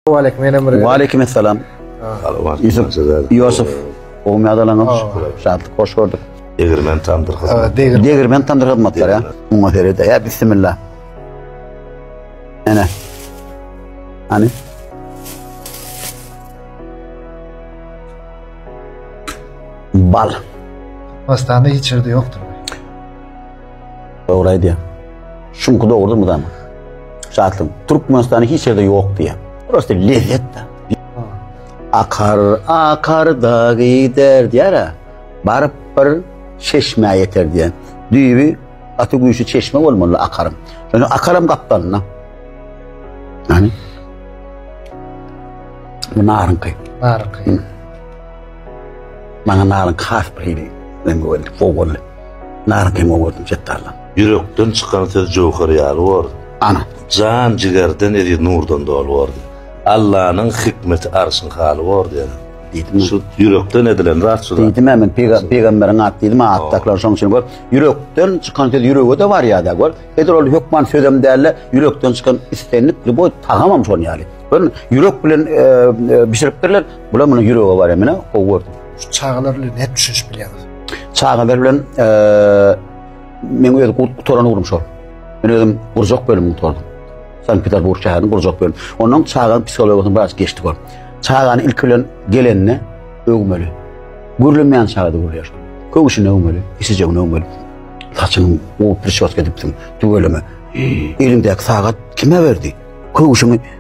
Waleýkim menem bir. Waleýkim assalam. Ýusup Ýusup Ogmy adalaňyz? Şatlyk hoş gördük. Degirmen tandyr hyzmat. Degirmen tandyr hyzmatlar ya. Muňa serede ya bismillah. Ana. Ana. Bal. Pastanda hiç yerde yoktur. Dogry aýdýar. Şuňky dogrudyr mydama. Şatlygyň. Türkmenistany hiç ýerde ýok diýýär. Prosta lezzet da. Akar, akar da gider diýär. Baryp bir çeşmä ýeter diýär. Düýbi gaty güýçli çeşme bolmaly akaryň. Şonda akaram gapdalyna. Yani bu narınky. Narınky. Bana narınky has bir hili. Ben bu oldu. Fogolle. Nara teň oňardyň Setdardan. Ýürekden çykan söz jöwher ýaly bordy. Ana. Jan jigerden eziz nurdan doly bordy. Allanyň hikmeti arşyň haly bordy ýene. Diýdim. Şu ýürekden edilen zat şu zat. Diýdim-ä men pegamberiň ady diýdim-ä atdakylar şoň üçin gör. Ýürekden çykan söz ýürege-de barýar-da gör. Edil ol hökman sözem däl-de ýürekden çykan islendik lýuboý tagamam şonuň ýaly. Görüň ýürek bilen bişiripdirler. Bular muny ýürege barýar menä gowy gördüm. Şu çagalar bilen nädip düşünişip bilýäňiz? Çagalar bilen men öz gutaran ugrum şol. Men özüm gurjak bölüm gutardym. Sankt Peterburg şäherinde gurjak bölüm. Ondan çaganyň psihologyny biraz geçdik ol. Çagany ilk bilen gelenini öwmeli. Gürlemeýän çagada gürleýär. Köwşüni öwmeli, isijegini öwmeli. Saçyny gowy prişos edipsiň, tüweleme. Elindäki sagat kime berdi? Köwşüni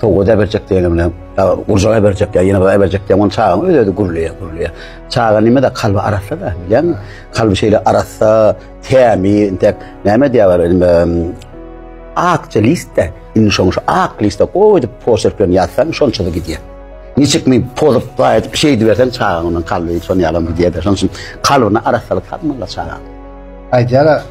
Sowga da berjek diýenim bilen, gurjaga berjek ýa ýene bira berjek diýenim, ony çagaň öz-özi gürleýär, gürleýär. Çaga nime-de kalby arassa-da, bilýäňmi? Kalby şeýle arassa, tämiz, entek näme diýýärler, indi akja list-de, indi şoň şu ak liste gowy edip poçerk bilen ýazsaň, şonça-da gidýär. Niçik mi pozup, baý edip, şeýdi berseň, çagaň ondan kalby şonuň ýalam gidýär-de, şonuň üçin kalbyna arassalyk salmaly çagaň. Aýdýar-a,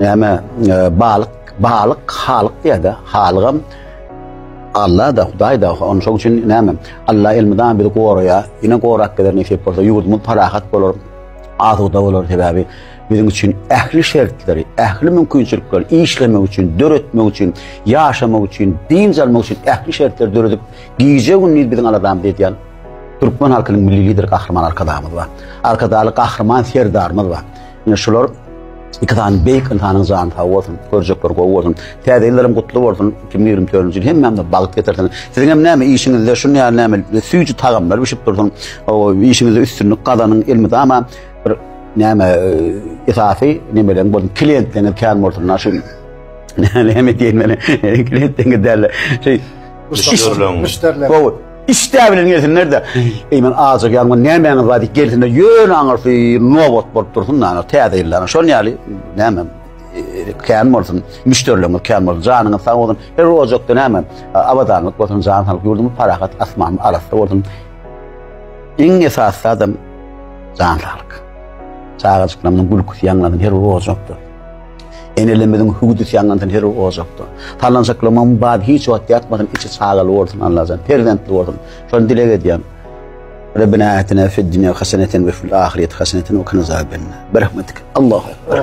Näme balyk, balyk halyk diýýär-de, halygam Alla-da, Hudaý-da, ony şoň üçin näme? Alla elmydama bizi goraýar, ýene gorap geler nesip bolsa, ýurdumyz parahat bolar, asuda bolar, sebäbi biziň üçin ähli şertleri, ähli mümkinçilikleri işlemek üçin, döretmek üçin, ýaşamak üçin, dynç almak üçin ähli şertleri döredip, gije-gündiz biziň aladamyzy edýän türkmen halkynyň milli lideri Gahryman Arkadagymyz bar. Arkadagly Gahryman Serdarymyz bar. Ine şular iki sany beýik ynsanyň jany sag bolsun, görjekler gowy bolsun. Täze ýyllaram gutly bolsun. 2024-nji ýyl hemmämize bagt getirsin. Siziň hem näme işiňizde şu näme näme süýji tagamlar bişip dursun. O işiňizde üstünlik gazanyň elmydama bir näme e, esasy nemeleň bolsun. Klientleriňiz kän bolsun. Şu näme diýmeli? Klientleriňiz däl. Şey, müşderileň. Gowy. Işdä bilen gelsinler-de, eý, men ajak ýaňman nämäňiz bar diýip gelsinler, ýöne aňyrsy nobat bolup dursun, näme, täze ýyldan, şol ýaly, näme, kän bolsun, müşderilerimiz kän bolsun, janyňyz sag bolsun, her ojakda näme, abadanlyk bolsun, jan saglyk, ýurdumyz parahat, asmany arassa bolsun. Iň esasy adam jan saglyk. Çagajyklaryň gülküsi ýaňlansyn her bir ojakda. Enelerimiziň hüwdüsi ýanandan her bir ojakda. Talanjaklamam bad hiç wagt ýatmasyn, içi çagaly bolsun Allajan, perzentli bolsun. Şony dileg edýän. Rabbena atina fid dunya hasanatan we fil ahireti hasanatan we qina azabanna. Berahmetik. Allahu ekber.